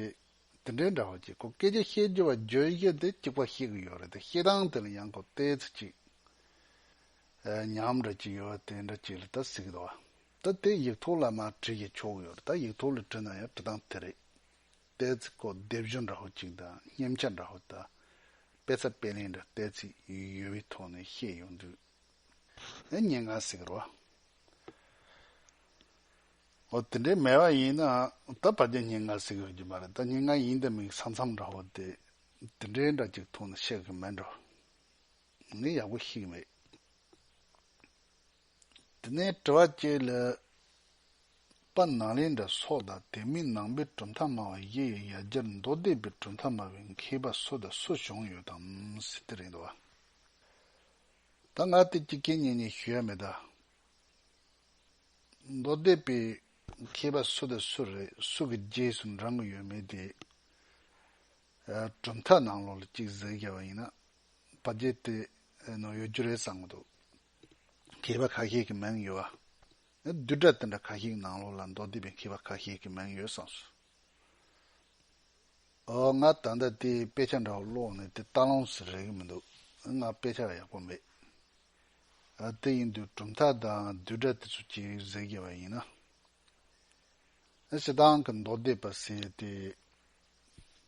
དེ་འདྲའི་འདྲ་བ་ཅིག་གོ་སྐད་ཆ་བཤད་རྒྱུ་བ་རྗོད་བཞི་དེ་གཅིག་པ་ཤེས་གི་ཡོད་རེད་དེ་ཤེས་སྟངས་དེ་ལ་ཡང་གོ་བལྟས་ཚེ་ཅིག་ཉམས་འདྲ་ཅིག་ཡོད་དེ་འདྲ་ཅིག་ལ་ད་གཟིགས་དོ། ད་དེ་ཡིག་ཐོག་ལ་མ་བྲིས་ཀྱི་ཆོག་ཡོད་རེད་ད་ཡིག་ཐོག་ལ་བྲིས་ན་ཡང་བྲི་སྟངས་དེ་རེད། བལྟས་ཚེ་གོ་བལྟས་བཞི་འདྲ་བ་ཅིག་དང་སྙེམས་ཆ་འདྲ་བ་དང་དཔེ་ཚ་དཔེ་ལེན་འདྲ་བལྟས་ཚེ་ཡུལ་བའི་ཐོག་ནས་བཤད་ཡོང་དུས་ཨེ་སྙན་ངག་ཟེར་གི་རོ། འོ་དེ་འདྲའི་མེད་པ་ཡིན་ན་ད་བར་རྒྱ་སྙན་ངག་ཟེར་གི་ཡོད་ཀྱི་མ་རེད་ད་སྙན་ངག་ཡིན་ད་མིང་ས་མཚམས་འདྲ་བོ་དེ་དེ་འདྲའི་འདྲ་གཅིག་ཐུག་ན་བཤད་གི་མེད་འགྲོ་ངས་ཡག་པོ་ཤེས་གི་མེད། དེ་ནས་དྲི་བ་གཅིག་ལ་པ་ནང་ལེན་དྲ་སོགས་དང་དེ་མིན་ནང་པའི་གྲུབ་མཐའ་སྨྲ་བ་ཡི་ཡི་ཡ་སྦྱར་མདོ་སྡེ་པའི་གྲུབ་མཐའ་སྨྲ་བའི་མཁས་པ་སུ་དང་སུ་བྱུང་ཡོད་དམ་ཟེར་དེ་རེད་འདུག་བ། ད་ང་དེ་གཅིག་རྐྱེན་གཉིས་གཉིས་ཞུ་ཡ་མེད་ད། མདོ་སྡེ་པའི་མཁས་པ་སུ་དང་སུ་རེད་སུ་གི་རྗེས་སུ་འབྲང་གི་ཡོད་མེད་དེ། གྲུབ་མཐའ་ནང་ལོགས་ལ་གཅིག་གཟིགས་རྒྱབ་པ་ཡིན་ན་བ་རྗེས་དེ་ནང་ཡོད་རྒྱུ་རེད་བསམ་གི་འདུག་མཁས་པ་ཁ་ཤས་ཀྱི་མིང་ཡོད་བ། བསྡུས་གྲྭ་དེ་འདྲ་ཁ་ཤས་ཀྱི་ནང་ལོགས་ལ་མདོ་སྡེ་པའི་མཁས་པ་ཁ་ཤས་ཀྱི་མིང་ཡོད་བསམ་སོང། ཨོ་ང་ད་ལྟ་དེའི་དཔེ་ཆ་འདྲ་བོ་ཀློག་ནས་དེ་ལྟ་ལོངས་སུ་རེག་གི་མི་འདུག་ང་དཔེ་ཆ་ཡག་པོ་མེད། དེ་ཡིན་དུས་གྲུབ་མཐའ་དང་བསྡུས་གྲྭ་དེ་ཚོ་སྐྱེལ་ཟེར་བགྱི་བ་ཡིན་ན། ཞེ་སྡང་གི་མདོ་སྡེ་པ་ཟེར་ཏེ།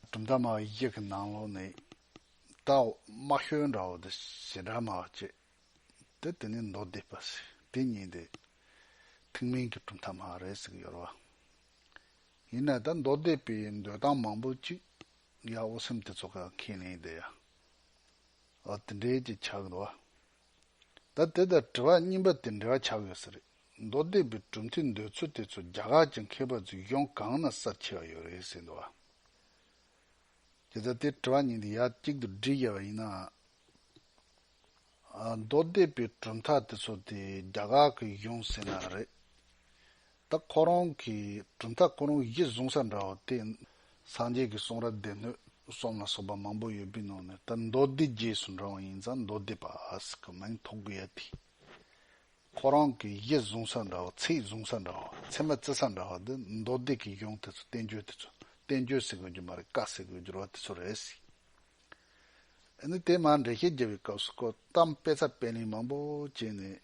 གྲུབ་མཐའ་མ་ཡི་གེ་གི་ནང་ལོགས་ནས་གྲྭ་འོག་དམའ་ཤོས་འདྲ་བོ་དེ་ཞེ་དྲག་མ་བྱེད་དེ་དེ་ནི་མདོ་སྡེ་པ་ཟེར་དེ་ཉིད་དེ་ཐུན་མིན་གྱི་གྲུབ་མཐའ་མ་རེད་ཟེར་གྱི་ཡོད་རེད་བ། ཡིན་ན་ད་མདོ་སྡེ་པའི་འདོད་སྟངས་མང་པོ་ཅིག་ཡ་འོ་སེམས་དེ་ཚོ་ག་ཁས་ལེན་བསྡད་ཡ། ཨོ་དེ་འདྲའི་ཅིག་ཆགས་ཡོད་ན། ད་དེ་ལྟར་དྲི་བ་རྙིང་པ་དེ་འདྲ་ཆགས་ཡོད་ས་རེད། མདོ་སྡེ་པའི་གྲུབ་མཐའི་འདོད་ཚུལ་དེ་ཚོ་རྒྱ་གར་གྱི་མཁས་པ་ཚོས་གཞུང་གང་ན་གསར་འཁྱེར་ཡོད་རེད་ཟེར་འདུག་ཨ། དེ་ལྟར་དེ་དྲི་བ་རྙིང་དེ་ཡར་གཅིག་ཏུ་སྒྲིལ་དགོས་པ་ཡིན་ན། མདོ་སྡེ་པའི་གྲུབ་མཐའ་དེ་ཚོ་དེ་རྒྱ་གར་གྱི་གཞུང་ཟེར་ན་རེད། ད་ཁོ་རང་གི་གྲུབ་མཐའ་ཁོ་རང་གཞི་བཟུང་ས་འདྲ་བ་སྟེ། སངས་རྒྱས་ཀྱི་གསུང་རབ་སྡེ་སྣོད་གསུམ་ལ་སོགས་པ་མང་པོ་ཡོད་པའི་ནང་ནས་ད་མདོ་སྡེ་རྗེས་སུ་འབྲང་བ་ཡིན་ཙང་མདོ་སྡེ་པ་ཞིག་གི་མིང་ཐོགས་དགོས་ཡ་དེ། ཁོ་རང་གི་གཞི་བཟུང་ས་འདྲ་བ་ཚིག་བཟུང་ས་འདྲ་བ་ཚད་མ་བརྩི་ས་འདྲ་བ་འདི་མདོ་སྡེ་ཀྱི་གཞུང་དེ་ཚོ་བསྟན་བཅོས་དེ་ཚོ་བསྟན་བཅོས་ཟེར་དགོས་རྒྱུ་མ་རེད་བཀའ་ཟེར་དགོས་རྒྱུར་བ་དེ་ཚོ་རེད་སྲིད། ཨ་ནི་དེ་མ་འགྲེལ་བཤད་རྒྱབ་པའི་སྐབས་སུ་ཀོ་གཏམ་དཔེ་ཚགས་དཔེ་ལེན་མང་པོ་བྱས་ནས།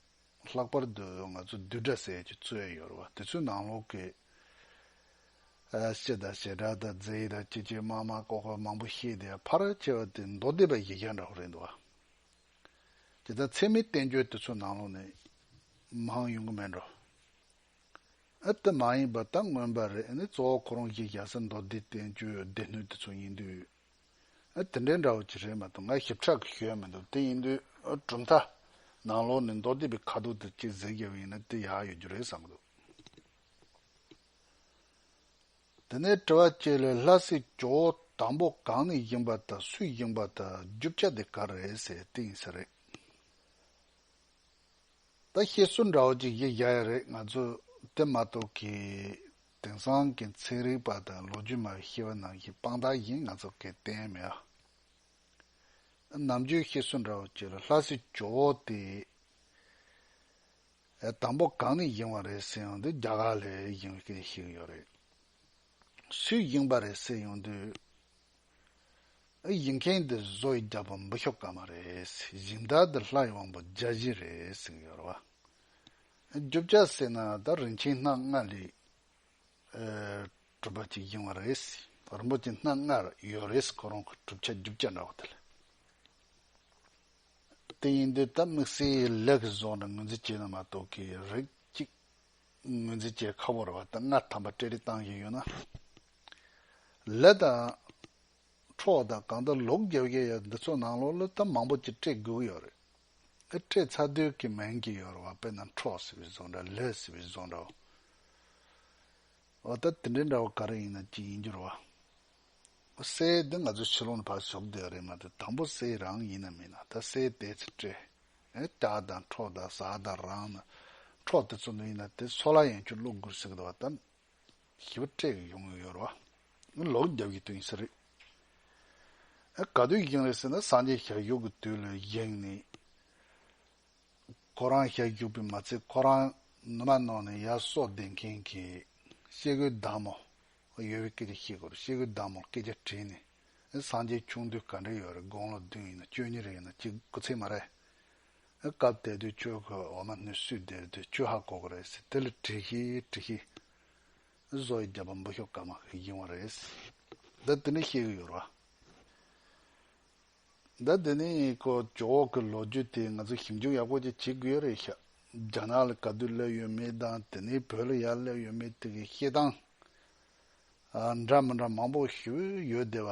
ལྷག་པར་དུ་ང་ཚོ་བསྡུས་གྲྭ་ཟེར་གྱི་རྩོད་ཡོད་རེད་བ་དེ་ཚོའི་ནང་ལོག་གི་སྤྱི་དང་བྱེ་བྲག་དང་རྫས་ཡིག་དང་སྐྱིད་སྐྱིད་དམར་དམར་ཀོག་ཀོག་མང་པོ་ཤེས་དེ་ཕ་ར་ཅེས་བ་དེ་མདོ་སྡེ་པའི་ཡིག་རྒྱ་འདྲ་བོ་རེད་འདུག་བ། དེ་དག་ཚད་མའི་བསྟན་བཅོས་དེ་ཚོའི་ནང་ལོག་ནས་མང་ཡོང་གི་མེད་འགྲོ། ཨ་དེ་མ་ཡིན་པ་ད་མངོན་པ་རེད་ཨ་ནི་གཙོ་བོ་ཁོ་རང་ཡིག་རྒྱ་སེ་མདོ་སྡེ་བསྟན་བཅོས་སྡེ་སྣོད་དེ་ཚོ་ཡིན་དུས། དེ་འདྲའི་འདྲ་བོ་ཅིག་རེད་མ་གཏོགས་ང་ཞིབ་ཕྲ་གི་ཤོད་ཡ་མི་འདུག་དེ་ཡིན་དུས་གྲུབ་མཐའ། ནང་ལོགས་ནས་མདོ་སྡེ་པའི་ཁ་དོག་དེ་གཅིག་གཟེངས་རྒྱབ་ཡིན་ན་དེ་ཡག་ཡོད་རྒྱུ་རེད་བསམ་གི་འདུག། དེ་ནས་དྲི་བ་གཅིག་ལས་ལྷ་སའི་ཇོ་བོ་དང་པོ་གང་ནས་ཡིན་པ་དང་སུས་ཡིན་པ་དང་རྒྱུ་ཆ་དེ་ག་རེད་ཟེར་དེ་ཡིན་ས་རེད། ད་བཤད་སྲོལ་འདྲ་བོ་ཅིག་ཡིད་གཞག་ཡ་རེད་ང་ཚོས་དེ་མ་གཏོགས་ཀྱི། དེང་སང་གི་ཚན་རིག་པ་དང་ལོ་རྒྱུས་མ་ཤེས་པ་ནང་གི་དཔང་རྟགས་ཡིན་ང་ཚོ་གི་བསྟན་མེད་ཨ། ནམ་རྒྱུན་ཤེས་གསོན་འདྲ་བོ་བྱེད་ལ་ལྷ་སྲིད་ཇོ་བོ་དེ་དང་པོ་གང་ནས་ཡིན་བ་རེད་ཟེར་ཡོང་དུས་རྒྱ་གར་ལས་ཡིན་མཁན་ཞིག་ཡོད་རེད། སུའི་ཡིན་པ་རེད་ཟེར་ཡོང་དུས་ཨ་ཡིན་མཁན་དེ་བཟོ་ཡི་རྒྱ་བོད་འབུ་ཤོ་ཀ་མ་རེད་གཞིན་བདག་དེ་ལྷ་ཡི་དབང་པོ་རྒྱ་བཞི་རེད་ཟེར་གྱི་ཡོད་རེད་བ། རྒྱུ་ཆ་བསྲེས་ན་ད་རིན་ཆེན་སྣ་ལྔ་ལས་གྲུབ་པ་ཅིག་ཡིན་བ་རེད། རིན་པོ་ཆེ་སྣ་ལྔ་ཡོད་རེད་ཁོ་རང་གི་གྲུབ་ཆ་རྒྱུ་ཆ་འདྲ་བ་དེ་ལས། དེ་ཡིན་དུས་ད་དམིགས་བསལ་ལས་ཀྱི་བཟོ་ནས་ངོས་འཛིན་བྱས་ན་མ་གཏོགས་ཀྱི་རིགས་གཅིག་ངོས་འཛིན་བྱེད་ཁག་པོ་རེད་བ་ད་སྔ་དམ་པ་སྤྲེལ་རིགས་བཏང་བཞིན་ཡོད་ན། ལས་དང། འཕྲོག་དང་གང་ལྟར་ལོག་རྒྱབ་ཡས་ཡས་འདི་ཚོ་ནང་ལོག་ལོ་ད་མང་པོ་ཅིག་སྤྲད་དགོས་ཀྱི་ཡོད་རེད། ཨེ་སྤྲད་ཚ་རྡུལ་གྱི་མན་གྱི་ཡོར་བ་དཔེ་ན་འཕྲོག་ཟེར་བའི་བཟོ་འདྲ་ལས་ཟེར་བའི་བཟོ་འདྲའོ། འོ་ད་དེ་འདྲའི་འདྲ་བོ་ག་རེ་ཡིན་ན་ཅི་ཡིན་འགྱུར་བ། འོ་སའི་དེ་ང་ཚོའི་ཕྱི་ལོག་ནས་ཕར་ཞོག་བསྡད་པ་རེད་མ་ཏི་དང་པོ་སའི་རང་ཡིན་ན་མིན་ན་ད་སའི་དེ་ཚེ་སྤྲད་ཨེ་སྐྱག་དང་འཕྲོག་དང་ཟ་དང་རང་ན་འཕྲོག་དེ་ཚོ་འདུག་ཡིན་ན་དེ་སོ་ལ་ཡང་ཁྱོད་བློ་སྒུར་ཟེར་གི་འདུག་བ་ད། ཞེས་པ་སྤྲད་ཡོང་གི་ཡོད་རེད་བ། ལོག་རྒྱབ་ཀྱི་དོན་ཞིག་རེད། ག་དུས་ཡིན་རེད་ཟེར་ན་སངས་རྒྱས་ཞག་བཞུགས་ཀྱི་དུས་ལ་གཞིགས་ནས། ཁོ་རང་ཞག་བཞུགས་པས་མ་ཚད་ཁོ་རང་ནུ་མ་ནང་ནས་ཡར་གསོག་བསྡད་མཁན་གྱི་ཤེལ་སྒོའི་བདག་མོ་ཡོད་པའི་སྐད་ཆ་བཤད་དགོས་རེད་ཤེལ་སྒོའི་བདག་མོར་སྐད་ཆ་དྲིས་ནས་སངས་རྒྱས་ཆུང་དུས་ག་འདྲ་ཡོད་རེད་དགུང་ལོ་བདུན་ཡིན་ན་བཅུ་གཉིས་རེ་ཡིན་ན་གཅིག་དགུ་ཚེ་མ་རེད། སྐབས་དེ་དུས་ཁྱོད་ཀྱི་འོ་མ་ནུས་སུས་སྡེར་དུས་ཁྱོད་ཧ་གོ་གི་རེད། དེ་ལ་དྲི་ཤི་དྲི་ཤི། བཟོ་ཡི་རྒྱལ་པོ་འབུ་ཤོ་ཀ་མ་ཡིན་བ་རེད། འདི་དེ་ནས་ཤེས་གི་ཡོད་རེད། འདི་དེ་ནས་ཀོ་ཅོ་འོག་གི་ལོ་རྒྱུས་དེ་ང་ཚོས་ཞིབ་འཇུག་ཡག་པོ་ཅིག་བྱེད་དགོས་ཡོད་རེད། རྒྱ་ནག་ལ་ག་དུས་སླེབས་ཡོད་མེད་དང་དེ་ནས་བོད་ལ་ཡར་སླེབས་ཡོད་མེད་དེ་གའི་བཤད་སྟངས་འདྲ་མི་འདྲ་མང་པོ་ཞིག་ཡོད་དེ་བ།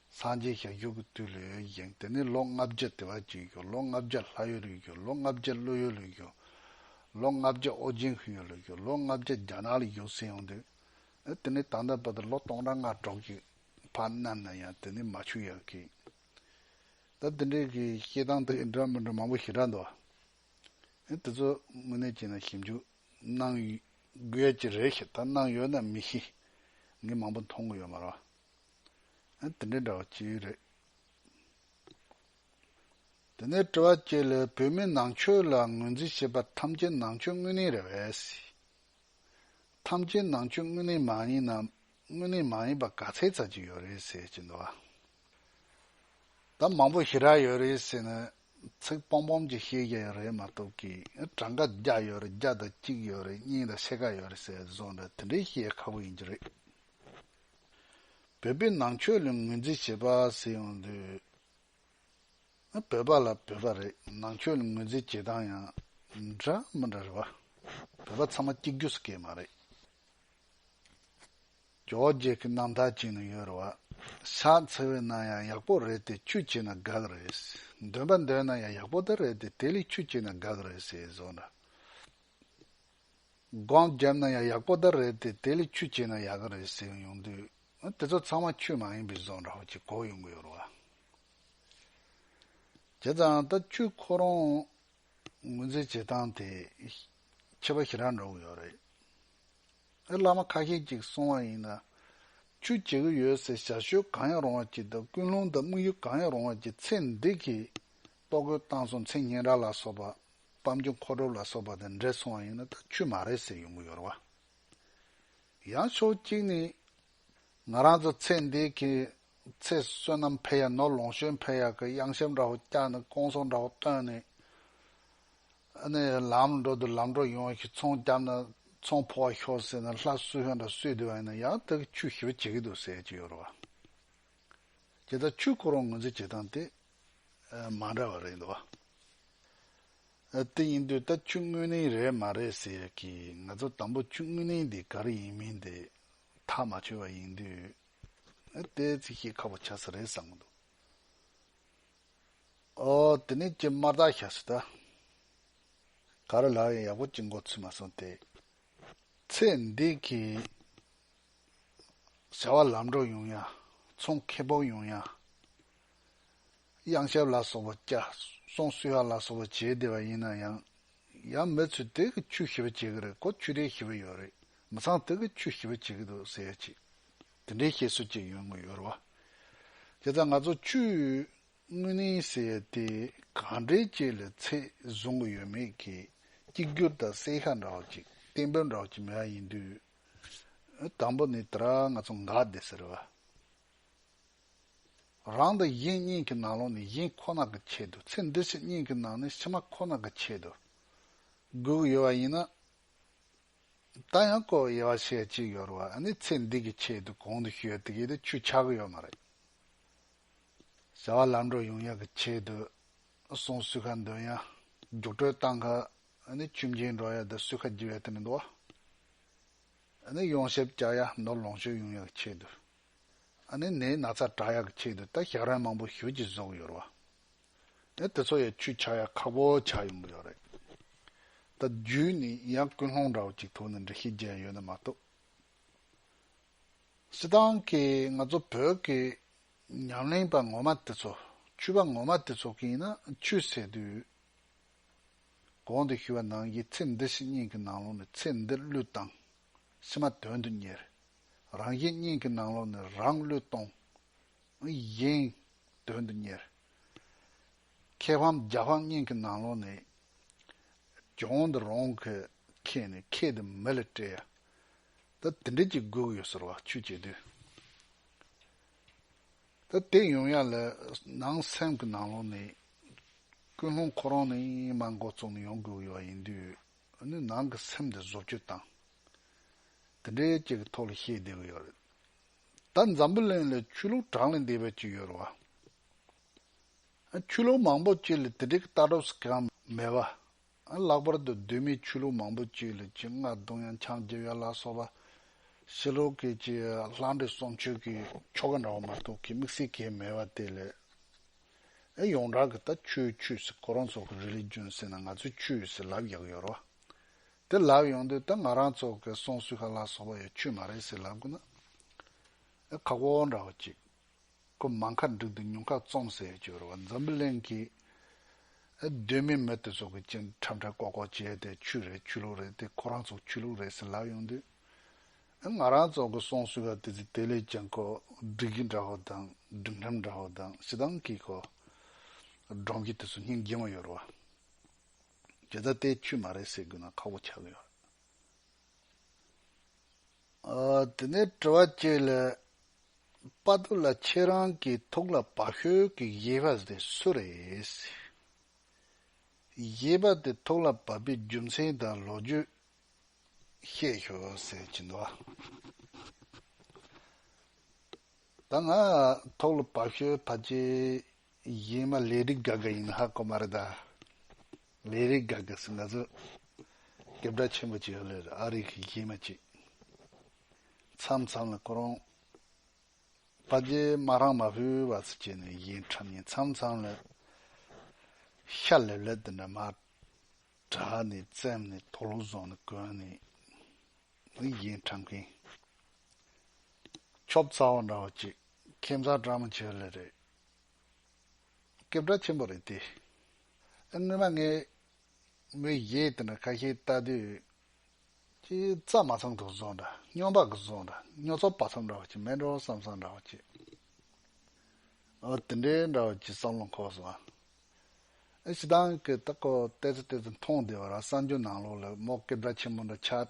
སངས་རྒྱས་ཞབས་ཞུ་གི་དུས་ལོ་ཡོན་ཅིང་དེ་ནས་ལོ་ལྔ་བརྒྱ་ལྟེ་བ་བཅུ་ཡོན་ཅིང་ལོ་ལྔ་བརྒྱ་ལྷ་ཡོན་ལུས་ཅིང་ལོ་ལྔ་བརྒྱ་ཀླུ་ཡོན་ལུས་ཅིང་ལོ་ལྔ་བརྒྱ་ཨོ་རྒྱན་ཧུད་ཡོན་ལུས་ཅིང་ལོ་ལྔ་བརྒྱ་རྒྱ་ནག་ལ་ཡོད་སྲིད་ཡོང་དུས། དེ་ནས་ད་ལྟ་བར་དུ་ལོ་སྟོང་ཕྲག་ལྔ་སྒྲོག་གི་བར་གནམ་ན་ཡང་དེ་ནས་མ་ཆུད་ཡག་གི། ད་དེ་འདྲའི་གི་བཤད་སྟངས་དེ་འདྲ་མི་འདྲ་མང་པོ་ཞེ་དྲག་འདུག་ཨ། དེ་ཚོ་དངོས་གནས་བྱས་ན་ཞིབ་འཇུག་གནང་དགོས་ཀྱི་རེད་ཞེས་ད་གནང་ཡོད་ན་མི་ཤེས། ངས་མང་པོ་མཐོང་གི་ཡོད་མ་རེད། དེ་འདྲའི་འདྲ་བ་ཅི་རེད། དེ་འདྲའི་དྲི་བ་ཅི་ལ་བོད་མི་ནང་ཆོས་ལ་ངོས་འཛིན་བྱེད་པ་ཐམས་ཅད་ནང་ཆོས་དངོས་གནས་རེད་བས། ཐམས་ཅད་ནང་ཆོས་དངོས་གནས་མ་ཡིན་ནམ་དངོས་གནས་མ་ཡིན་པ་ག་ཚད་ཚར་གྱི་ཡོད་རེད་ཟེར་གྱི་འདུག་བ། ད་མང་པོ་ཞི་རགས་ཡོད་རེད་ཟེར་ནས་ཚིག་སྤོམ་སྤོམ་ཅིག་བཤད་ཀྱི་ཡོད་རེད་མ་གཏོགས་ཀྱི་གྲངས་ཀ་བརྒྱ་ཡོད་རེད་བརྒྱ་དང་གཅིག་ཡོད་རེད་གཉིས་དང་ཕྱེད་ཀ་ཡོད་རེད་ཟེར་བཟོ་འདྲ་དེ་འདྲའི་བཤད་ཡ་ཁག་པོ་ཡིན་གྱི་རེད། བོད་པའི་ནང་ཆོས་ལ་ངོས་འཛིན་བྱེད་པ་ཟེར་ཡོང་དུས། བོད་པ་ལ་བོད་པ་རེད་ནང་ཆོས་ལ་ངོས་འཛིན་བྱེད་སྟངས་ཡང་འདྲ་མི་འདྲ་རེད་བ། བོད་པ་ཚང་མ་གཅིག་གྱུར་སུ་སྐྱེས་མ་རེད། རྒྱ་བོད་རྒྱལ་ཁའི་ནང་དག་ཅིག་ནས་ཡོད་རེད་བ། ཕྱག་འཚལ་བའི་ནང་ཡང་ཡག་པོ་རེད་དེ་ཆུ་བྱས་ན་དགག་རེད། འདོན་པ་འདོན་ན་ཡང་ཡག་པོ་དེ་རེད་དེ་དེ་ལས་ཆུ་བྱས་ན་དགག་རེད་ཟེར་བཟོ་འདྲ། སྒང་བརྒྱབ་ན་ཡང་ཡག་པོ་ད་རེད་དེ་དེ་ལས་ཆུ་བྱས་ན་ཡག་གི་རེད་ཟེར་ཡོང་དུས་དེ་ཚོ་ཚང་མ་ཆུ་མ་ཡིན་པའི་བཟོ་འདྲ་བོ་གཅིག་གོ་ཡོང་གི་ཡོད་རེད་བ། བྱས་ཙང་ད་ཆུ་ཁོ་རང་ངོས་འཛིན་བྱེད་སྟངས་དེ་ཁྱད་པར་ཞེ་དྲག་འགྲོ་གི་ཡོད་རེད། ཨེ་བླ་མ་ཁ་ཤས་ཀྱིས་གསུང་བ་ཡིན་ན་ཆུ་བྱེད་གི་ཡོད་ཟེར་ཞར་ཞོད་གང་ཡང་རུང་བ་གྱིས་དང་ཀུན་སློང་དང་དམིགས་ཡུལ་གང་ཡང་རུང་བ་གྱིས་ཚེ་འདི་གིས་ལྟོ་གོས་བཏང་སོང་མཚན་སྙན་གྲགས་ལ་སོགས་པ་སྤམ་རྒྱུ་མཁོ་སྒྲུབ་ལ་སོགས་པ་དང་འབྲེལ་སོང་བ་ཡིན་ན་ད་ཆུད་མ་རེད་ཟེར་ཡོང་གི་ཡོད་རེད་བ། ཡང་ཕྱོགས་གཅིག་ནས། ང་རང་ཚོ་ཚེ་འདས་ཀྱི་ཚེ་བསོད་ནམས་འཕེལ་ཡག་ནོར་ལོངས་སྤྱོད་འཕེལ་ཡག་གི་གཡང་ཞབས་འདྲ་བོ་བཀྱགས་ནས་སྐོང་གསོང་འདྲ་བོ་བཏོན་ནས། ནས་ལམ་འགྲོ་དུ་ལམ་འགྲོ་ཡོང་ཞིག་ཚོང་བརྒྱབ་ན་ཚོང་ཕོ་བ་ཤོར་ཟེར་ནས་ལྷ་བསུ་ཧོན་འདྲ་བསུས་བསྡད་བ་ཡིན་ན་ཡང་ད་གི་ཆུད་ཞིབ་བྱེད་ཀྱི་འདུག་ཟེར་གྱི་ཡོད་རེད་བ། ཀྱེ་ད་ཆུད་ཁོ་རང་ངོས་འཛིན་བྱེད་སྟངས་དེ་མ་འདྲ་བ་རེད་འདུག་བ། དེ་ཡིན་དུས་ད་ཆུ་དངུལ་ནི་རེད་མ་རེད་ཟེར་ཡ་གི་ང་ཚོ་དང་པོ་ཆུ་དངུལ་ནི་འདི་ག་རེ་ཡིན་མིན་དེ་ཐག་མ་ཆོད་བ་ཡིན་དུས་དེ་ཚིག་བཤད་ཁག་པོ་ཆགས་ས་རེད་བསམ་གི་འདུག་ཨོ་དེ་ནས་ཀྱི་དམར་རྟགས་ཤ་ཟོས་ད། ག་རེ་ལགས་ཡང་ཡག་པོ་ཅིག་འགོ་ཚུགས་མ་སོང་དེ། ཚེ་འདི་གི་བྱ་བ་ལམ་འགྲོ་ཡོང་ཡ་ཚོང་ཁེ་སྤོགས་ཡོང་ཡ་གཡང་ཆབ་ལ་སོགས་པ་བཅའ། སོང་སུ་ཡག་ལ་སོགས་པ་བྱེད་བདེ་བ་ཡིན་ན་ཡང། ཡང་མི་ཚོས་དལ་གྱི་ཆུ་ཞེས་པ་བྱེད་ཀྱི་རེད་གོ་ཆུ་རེད་ཞེས་པ་ཡོད་རེད་མི་ཚང་དལ་གྱི་ཆུ་ཞེས་པ་བྱེད་ཀྱི་འདུག་ཟེར་ཡ་ཅིག་དེ་འདྲའི་བཤད་སྲོལ་ཅིག་ཡོད་མགོ་ཡོར་བ། དེ་ལྟར་ང་ཚོ་ཆུའི་དངོས་གནས་ཟེར་ཡ་དེ་གང་འདྲའི་བཅས་ལ་ཚད་བཟུང་གི་ཡོད་མེད་ཀྱི་གཅིག་གྱུར་དང་གསལ་ཤ་འདྲ་བ་ཅིག་གཏན་འབེབས་འདྲ་བ་ཅིག་མེད་ཡ་ཡིན་དུས། དང་པོ་ནི་དེ་ར་ང་ཚོ་འགག་བདེ་ཟེར་བ། རང་དང་གཞན་གཉིས་ཀྱི་ནང་ལོགས་ནི་གཞན་ཁོ་ན་གི་ཆེད་དུ་ཚེ་འདི་ཕྱི་གཉིས་ཀྱི་ནང་ནི་ཕྱི་མ་ཁོ་ན་གི་ཆེད་དུ་དགོས་ཡོད་པ་ཡིན་ན། ད་ཡང་བསྐོ་ཡི་བ་ཞེས་གཅིག་ཡོད་རུང་བ་ནི་ཚེ་འདི་གི་ཆེད་དུ་གོང་དུ་ཞུས་དེ་གས་དེ་ཆུ་ཆག་གི་ཡོད་མ་རེད། བྱ་བ་ལམ་འགྲོ་ཡོང་ཡག་གི་ཆེད་དུ་སོང་སུས་ཁ་འདོན་ཡ་རྒྱུགས་སྤྲོད་བཏང་གི་ནི་ཆུ་མཇལ་འགྲོ་ཡ་དེ་སུས་ཁ་རྒྱུ་ཡ་དེ་མི་འདུག་བ། ནི་ཡོངས་ཤེས་བཅག་ཡ་ནོར་ལོངས་སྤྱོད་དབྱུང་ཡག་གི་ཆེད་དུ། ནི་ནས་ན་ཚ་དྲག་ཡག་གི་ཆེད་དུ་ད་ཞག་རན་མང་པོ་ཞུ་ཅི་བཟོ་གི་ཡོད་ར་བ། དེ་ཚོ་ཡ་ཆུས་ཆག་ཡ་ཁག་པོ་ཆག་ཡོང་གི་ཡོད་རེད། ད་རྒྱུས་ནི་ཡང་ཀུན་སློང་འདྲ་བོ་ཅིག་ཐུག་ནས་འདྲི་ཤེས་བརྒྱད་ཡོད་ནི་མ་གཏོགས། སི་ཏང་གིས་ང་ཚོ་བོད་ཀྱི་ཉམས་ལེན་པ་ངོ་མ་དེ་ཚོ་ཆུས་པ་ངོ་མ་དེ་ཚོ་གིས་ཡིན་ན་ཆུས་ཟེར་དུས། གོང་དུ་ཞུས་པ་ནང་གི་ཚེ་འདི་ཞེས་སྙིང་གི་ནང་ལོགས་ནས་ཚེ་འདི་བློས་བཏང། ཕྱི་མ་དོན་དུ་གཉེར། རང་གཞན་སྙིང་གི་ནང་ལོགས་ནས་རང་བློས་གཏོང། གཞན། དོན་དུ་གཉེར། ཁྱད་འཕངས་རྒྱ་འཕངས་སྙིང་གི་ནང་ལོགས་ནས། གྱོང་འདི་རང་གི་ཁྱེད་ནས་ཁྱེད་འདི་མི་ལ་སྤྲད། ད་དེ་འདྲས་ཀྱི་དགོས་ཡོད་ཟེར་བ་ཆོས་བྱེད་དུས། ད་དེ་ཡོང་ཡག་ལ་ནང་སེམས་ཀྱི་ནང་ལོག་ནས་ཀུན་སློང་ཁོ་རང་ནས་མ་འགོ་བཙུགས་ནས་ཡོང་དགོས་ཡོད་ཡིན་དུས་ནི་ནང་གི་སེམས་འདི་བཟོ་བཅོས་དང་དེ་འདྲའི་ཅིག་གི་ཐོག་ལ་བཤད་བསྡད་གི་ཡོད་རེད་ད་འཛམ་བུ་གླིང་ལ་ཆོས་ལུགས་གྲངས་ལས་འདས་པའི་ཅིག་ཡོད་རེད་བ། ཆོས་ལུགས་མང་པོ་ཅིག་ལ་དེ་འདྲའི་ཀྱི་ལྟ་གྲུབ་སི་གང་མེད་བ། ལྷག་པར་དུ་གདོད་མའི་ཆོས་ལུགས་མང་པོ་བཅས་ལས་ཀྱི་རྔ་བརྡུང་ཡང་འཆང་རྒྱལ་བ་ལ་སོགས་པ། ཕྱི་ལོ་སྐད་ཀྱི་ལྷ་འདྲེ་གསུམ་ཆོས་ཀྱི་ཆོ་ག་འདྲ་བ་མ་གཏོགས་ཀྱི་དམིགས་བསལ་གལ་མེད་པ་དེ་ལས། ཨེ་ཡོངས་གྲགས་ཀྱི་ད་ཆོས་ཆོས་སུ་ཁོ་རང་ཚོ་གི་རི་ལས་རྒྱུན་ཟེར་ན་ང་ཚོས་ཆོས་ཟེར་ལབ་ཡག་ཡོད་རོ། དེ་ལབ་ཡོང་དུས་ད་ང་རང་ཚོ་གི་སོང་སུས་ཁ་ལ་སོགས་པ་ཡོད་ཆོས་མ་རེད་ཟེར་ལབ་དགོས་ན། ཨེ་ཁག་པོ་འདྲ་བ་ཅིག། སྐུ་མ་མཁའ་འགྲོ་འདི་ཉུང་ཁ་རྩོམ་ཟེར་ཡོད་ཅོལ་བ་འཛམ་བུ་གླིང་གི་གདོད་མའི་མི་དེ་ཚོ་གི་སྤྱན་ཁྲབ་ཁྲབ་ཀོག་ཀོག་བྱས་དེ་ཆོས་རེད་ཆོས་ལུགས་རེད་དེ་ཁོ་རང་ཚོ་ཆོས་ལུགས་རེད་ཟེར་ལབ་ཡོང་དུས་ང་རང་ཚོ་གི་སོང་སུས་ཀ་དེ་ཚོས་དེ་ལས་ཀྱང་ཁོ་སྒྲིག་གི་འདྲ་བོ་དང་སྒྲིག་ལྷམ་འདྲ་བོ་དང་ཞེ་སྡང་གིས་ཁོ་སྒྲོམ་གྱི་དེ་ཚོ་སྙིང་རྗེ་མོ་ཡོད་རོ་བ། དེ་ད་ལྟའི་ཆོས་མ་རེད་ཟེར་དགོས་ན་ཁག་པོ་ཆགས་གི་ཡོད། དེ་ནས་དྲི་བ་བཅས་ལས། དཔའ་རྟུལ་ལ་ཁྱེད་རང་གི་ཐུགས་ལ་བག་ཤོས་ཀྱི་གཞས་པ་དེ་སུ་རེད། གཞས་པ་དེ་ཐུགས་ལ་བབས་པའི་རྒྱུ་མཚན་དང་ལོ་རྒྱུས་བཤད་ཤོག་ཅི་འདུག་ཨ། ད་ང་ཐུགས་ལ་བབས་ཤོས་ཕ་གཅིག་གཞན་མ་ལས་རིགས་དགའ་དགའ་ཡིན་ཧ་གོ་མ་རེད་ད། ལས་རིགས་དགའ་དགའ་སུ་ང་ཚོ་རྒྱབ་སྒྲ་ཆེན་པོ་ཅིག་ཨ་ལེར་ཨ་རིགས་ཀྱི་གཞས་མ་ཅིག་མཚམས་མཚམས་ལ་ཁོ་རང་པ་རྗེས་མ་རང་མ་བོའི་བ་སུ་བྱས་ནས་གཞས་འཁྲབ་ཉིན་མཚམས་མཚམས་ལ་ཤ་ལེབ་ལེབ་དེ་འདྲ་མ་གྲགས་ནས་བཙེམ་ནས་དོག་ལུག་བཟོ་ནས་གོན་ནས་ནི་གཞས་འཁྲབ་མཁན་ཁྱོ་བཙའ་བ་འདྲ་བ་ཅིག་ཁྱིམ་བཟའ་གྲ་མ་ཅིག་ཨ་ལེ་རེད། སྐད་གྲགས་ཆེན་པོ་རེད་དེ། སྔོན་མ་ངས་མོའི་གཞས་དེ་འདྲ་ཁ་ཤས་བལྟ་དུས། ཅི་རྩ་མ་ཚང་དུ་བཟོ་འདྲ་སྨྱོ་འབག་གི་བཟོ་འདྲ་སྨྱོ་ཚོགས་པ་ཚོ་འདྲ་བ་ཅིག་མེད་འགྲོ་བསམ་བསམ་འདྲ་བ་ཅིག་འོ་དེ་འདྲའི་འདྲ་བ་ཅིག་བསམ་བློ་འཁོར་སོང། ཞེ་སྡང་གིས་ད་ཀོ་བལྟས་ཚེ་བལྟས་ཚེ་མཐོང་བདེ་བ་ར་གསར་འགྱུར་ནང་ལོགས་ལས་མོ་སྐད་གྲགས་ཆེན་པོ་འདྲ་ཆགས།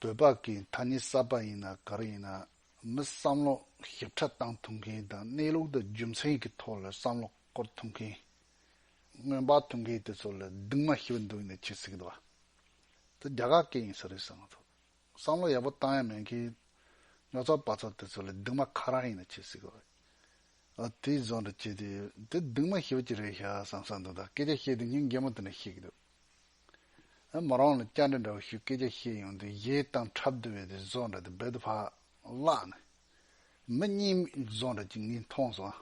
འདོད་པ་གི་མཐའ་ནི་བསགས་པ་ཡིན་ན་གར་ཡིན་ན་མི་བསམ་བློ་ཞིབ་ཕྲ་བཏང་ཐུབ་མཁན་དང་གནས་ལུགས་དང་རྒྱུ་མཚན་གི་ཐོག་ལ་བསམ་བློ་སྐོར་ཐུབ་མཁན། སྔོན་དཔག་ཐུབ་མཁན་དེ་ཚོ་ལ་སྡིག་མ་ཞི་བ་འདུག་ཡིན་ན་ཁྱེད་སྲིད་གདའ། འདི་རྒྱ་གར་སྐད་ཡིན་ས་རེད་བསམ་ཐུབ། བསམ་བློ་ཡག་པོ་བཏང་ཡ་མེད་མཁན་ཉོག་ཚོགས་པ་ཚོ་དེ་ཚོ་ལ་སྡིག་མ་ཁ་རང་ཡིན་ན་ཁྱེད་སྲིད་གདའ། དེའི་བཟོ་འདྲ་བྱས་ཏེ་འདི་སྡིག་མ་ཞི་བ་ཅིག་རེད་ཤག་བསམ་ས་འདུག་ད་སྐད་ཆ་བཤད་དུས་ཉིན་རྒན་མོ་དེ་འདྲ་ཤེས་ཀྱི་འདུག། མོ་རང་ལ་སྐྱ་འདྲ་འདྲ་བོ་ཞིག་སྐད་ཆ་བཤད་ཡོང་དུས་གཞས་གཏང་འཁྲབ་བསྡུ་བའི་དེ་བཟོ་འདྲ་དེ་རྦད་དུ་ཕར་བརླག་ནས། མི་གཉིས་བཟོ་འདྲ་གཅིག་ངས་མཐོང་སོང།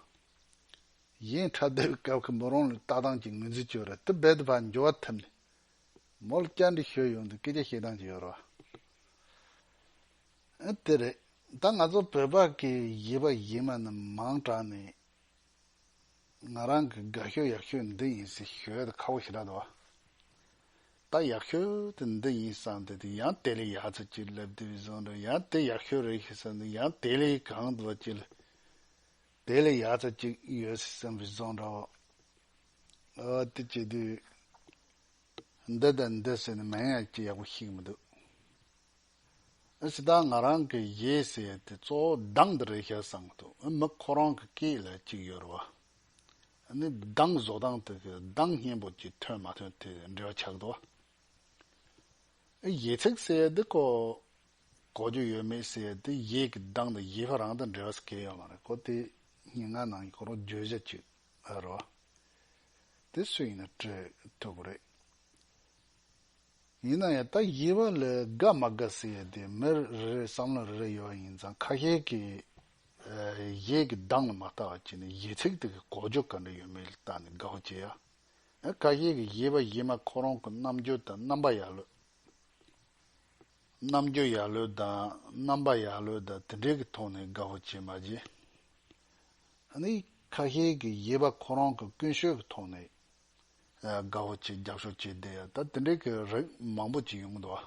གཞས་འཁྲབ་བསྡུ་བའི་སྐབས་ཁོས་མོ་རང་ལ་ལྟ་སྟངས་ཀྱི་ངོས་འཛིན་བྱོས་ར་དེ་རྦད་དུ་ཕར་འགྱོ་བ་ཐུབ་ནས། མོ་ལ་སྐྱ་འདྲ་ཤོད་ཡོང་དུས་སྐད་ཆ་བཤད་སྟངས་ཀྱི་ཡོ་རོ། དེ་རེད། ད་ང་ཚོ་བོད་པ་གིས་གཞས་པ་གཞས་མ་རྣམས་མང་དྲགས་ནས། ང་རང་གི་དགའ་ཤོས་ཡག་ཤོས་འདི་ཡིན་ཟེར་ཞོལ་དུ་ཁ་བོ་ཞེ་དྲག་འདུག་ད་ཡག་ཤོས་དེ་འདི་ཡིན་བསམ་སྟེ་དེ་ཡང་དེ་ལས་ཡག་ཚུལ་གྱིས་སླེབས་དུས་བཟོ་འདྲ་ཡང་དེ་ཡག་ཤོས་རེད་ཞེས་བསམ་ནས་ཡང་དེ་ལས་གང་འདུག་བ་གཅིག་ལ་དེ་ལས་ཡག་ཚུལ་གཅིག་ཡོད་ཟེར་བསམ་པའི་བཟོ་འདྲ་བོ་དེ་བྱེད་དུས་འདི་དང་འདི་ཟེར་ནས་མན་ངག་ཅིག་ཡག་པོ་ཤེས་གི་མི་འདུག་ཅི་ད་ང་རང་གི་ཡས་ཟེར་དེ་གཙོ་བོ་གདངས་འདི་རེད་ཤག་བསམ་འདུག་ཨ་མི་ཁོ་རང་གི་སྐད་ལ་གཅིག་ཡོད་རེད་བ། ནི་གདངས་བཟོ་སྟངས་དེ་གི་གདངས་སྙན་པོ་གཅིག་ཐོན་མ་ཐོན་དེ་འབྲེལ་བ་ཆགས་འདུག་བ། ཡས་ཚིག་ཟེར་དེ་གོ་གོ་རྒྱུ་ཡོད་མེད་ཟེར་དེ་ཡས་གི་གདངས་དང་ཡས་ཕ་རང་དང་འབྲེལ་བ་སྐད་ཡོད་མ་རེད་གོ་དེ་སྙན་ངག་ནང་གི་གོ་རོ་བརྗོད་བྱ་གཅིག་རེད་བ། དེ་སུ་ཡིན་ན་སྤྲོད་ཐུབ་རེད། ཡིན་ན་ཡང་ད་ཡིད་བ་ལས་དགའ་མ་དགའ་ཟེར་ཡས་དེ་མི་རེ་རེའི་བསམ་བློ་རེ་རེ་ཡོད་བ་ཡིན་ཙང་ཁ་ཤས་ཀྱི་ཡས་ཀྱི་གདངས་ལ་མ་ལྟ་བ་གྱིས་ནི་ཡས་ཚིག་དེ་གི་གོ་འཇོ་ག་འདྲ་ཡོད་མེད་ལ་བལྟ་ནས་དགའ་བ་སྐྱེ་ཡ། ཡང་ཁ་ཤས་ཀྱི་ཡིད་བ་ཡིད་མ་ཁོ་རང་གི་རྣམ་འགྱུར་དང་རྣམ་པ་ཡག་ལོས། རྣམ་འགྱུར་ཡག་ལོས་དང་རྣམ་པ་ཡག་ལོས་དང་དེ་འདྲས་ཀྱི་ཐོག་ནས་དགའ་བ་སྐྱེ་མ་གྱིས། ནི་ཁ་ཤས་ཀྱི་ཡིད་བ་ཁོ་རང་གི་ཀུན་སྤྱོད་ཀྱི་ཐོག་ནས་དགའ་བོ་བྱེད་རྒྱག་ཤོག་བྱས་བསྡད་ཡོད་ད་དེ་འདྲའི་གི་རིགས་མང་པོ་ཅིག་ཡོང་གི་འདུག་ཨ།